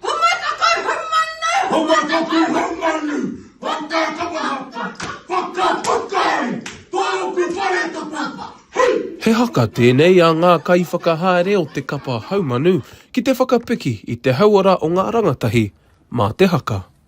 Huma taku humanu! Huma taku humanu! Waka tapa hapa! Waka puka ai! Tōku whare ta papa! Hui! He haka tēnei a ngā kaiwhakahaere o te kapa haumanu ki te whakapiki i te hauora o ngā rangatahi mā te haka.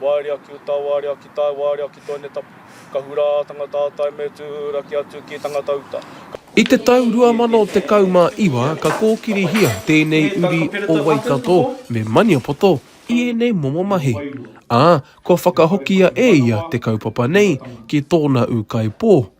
Waerea ki uta, waerea ki tae, waerea ki toene tapu. Ka hura a tangata a tae me tūhura ki atu ki tangata uta. Ka. I te tau 2019 ka kōkirihia tēnei uri o Waikato me Maniapoto i ēnei momo mahi, ā, kua whakahokia e ia te kaupapa nei ki tōna ūkaipō,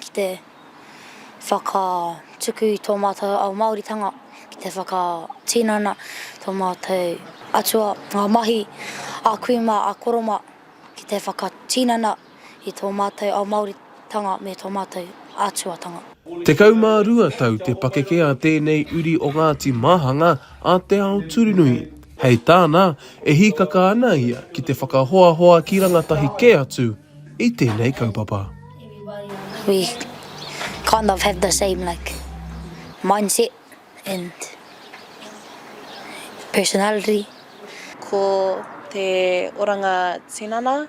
ki te whakatuku i tō mātou ao Māoritanga, ki te whakatinana tō mātou atua, ngā mahi a kui mā, a koro mā, ki te whakatinana i tō mātou ao Māoritanga me tō mātou atuatanga. Tekau mā rua tau te pakeke a tēnei uri o Ngāti Māhanga a Te Ao Turunui. Hei tāna, e hīkaka ana ia ki te whakahoahoa ki rangatahi kē atu, i tēnei kaupapa. We kind of have the same like mindset and personality. Ko te oranga tinana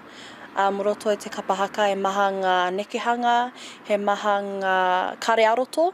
a Moroto i te kapa haka he maha ngā nekehanga, he maha ngā kare-ā-roto.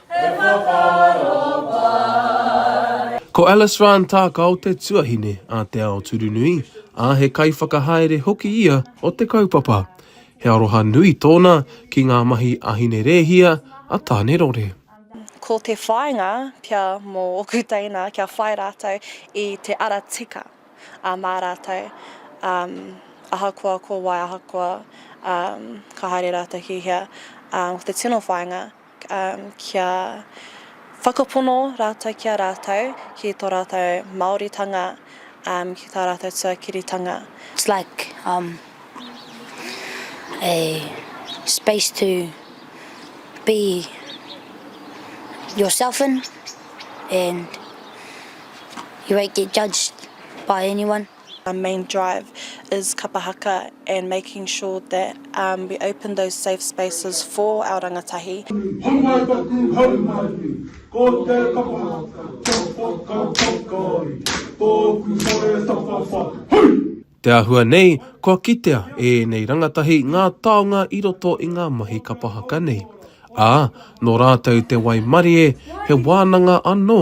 He whakaaro pai. Ko Alice Ryan Tākao te tuahine a Te Ao Turunui, ā, he kaiwhakahaere hoki ia o te kaupapa. He aroha nui tōna ki ngā mahi a Hine Rēhia, a Tānerore. Ko te whāinga pea mō ōku teina kia whai rātou i te ara tika mā rātou, ahakoa ko wai, ahakoa ka haere rātou ki hea, ko te tino whāinga. kia whakapono rātou ki a rātou, ki tō rātou Māoritanga, ki tā rātou tuakiritanga. It's like um a space to be yourself in and you won't get judged by anyone. Our main drive is kapa haka and making sure that um we open those safe spaces for our rangatahi. Hau mai taku, hau mai ki, ko te kapa haka kia whakapakari tōku whare tapawhai, hui! Te āhua nei, kua kitea e ēnei rangatahi ngā taonga i roto i ngā mahi kapa haka nei, ā, nō rātou te waimarie, he wānanga anō.